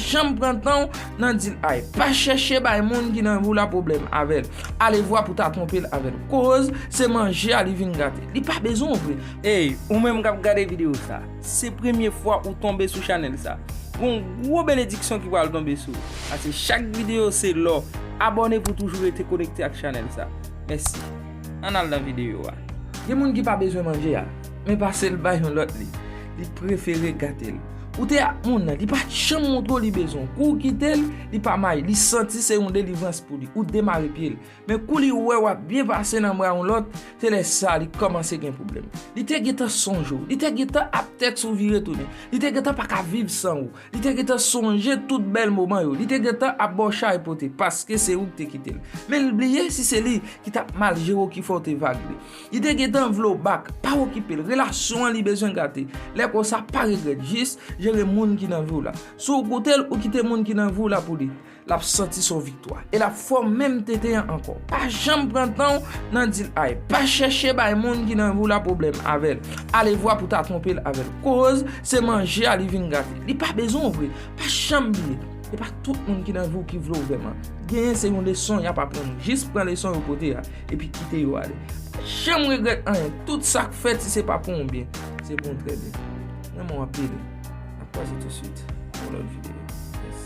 Janm pran tanw nan dil ay. Pa chèche bay moun ki nan vi w la pwoblèm avèl. Alevwa pou ta twonpe l avèl. Koz se manje a li vin gate. Li pa bezwen w vre. Ey ou menm kap gade video sa, se premye fwa ou tonbe sou chanèl sa, gon gwo benediksyon ki pral tonbe sou ou, pase chak video se lò, abòne pou toujou rete konekte ak chanèl sa. Mèsi. Ann al nan video a. Gen moun ki pa bezwen manje a, men pase l bay yon lòt li, li prefere gate l. Ou te ak moun nan, li pa janm montre w li bezwen w. Kou w kite l, li pa mayi. Li santi se yon delivrans pou li. Ou demare pye l. Men kou li wè w ap byen pase nan bra yon lòt, se lè sa li kòmanse gen pwoblèm. Li te gentan sonje w. Li te gentan ap tèks ou vire tounen. Li te gentan pa ka viv san ou. Li te gentan sonje tout bèl moman yo. Li te gentan ap ba w chay pote paske se ou ki te kite l. Men li bliye si se li ki t ap mal jere w ki fè w te vag li. Li te gentan vle w back, pa okipe l, relasyon an li bezwen gate. Lè konsa pa regrèt, jis jere moun ki nan vi w la. Si w koute l, ou kite moun ki nan vi w la pou li, l ap santi se w viktwa. E l ap fè w menm tenten an ankò. Pa janm pran tan w nan di l ay. Pa chèche bay moun ki nan vi w la pwoblèm avè l. Alevwa pou ta twonpe l avè l. Koz se manje a li vin gate. Li pa bezwen w vre. Pa janm bliye, se pa tout moun ki nan vi w ki vle w vrèman. Genyen se yon leson y ap aprann ou. Jis pran leson yo pote a. epi kite yo ale. Pa janm regrèt anyen, tout sa k fèt si se pa pou yon byen, se pou yon trè byen. M renmen w anpil. N ap kwaze tousuit pou yon lòt videyo. Peace.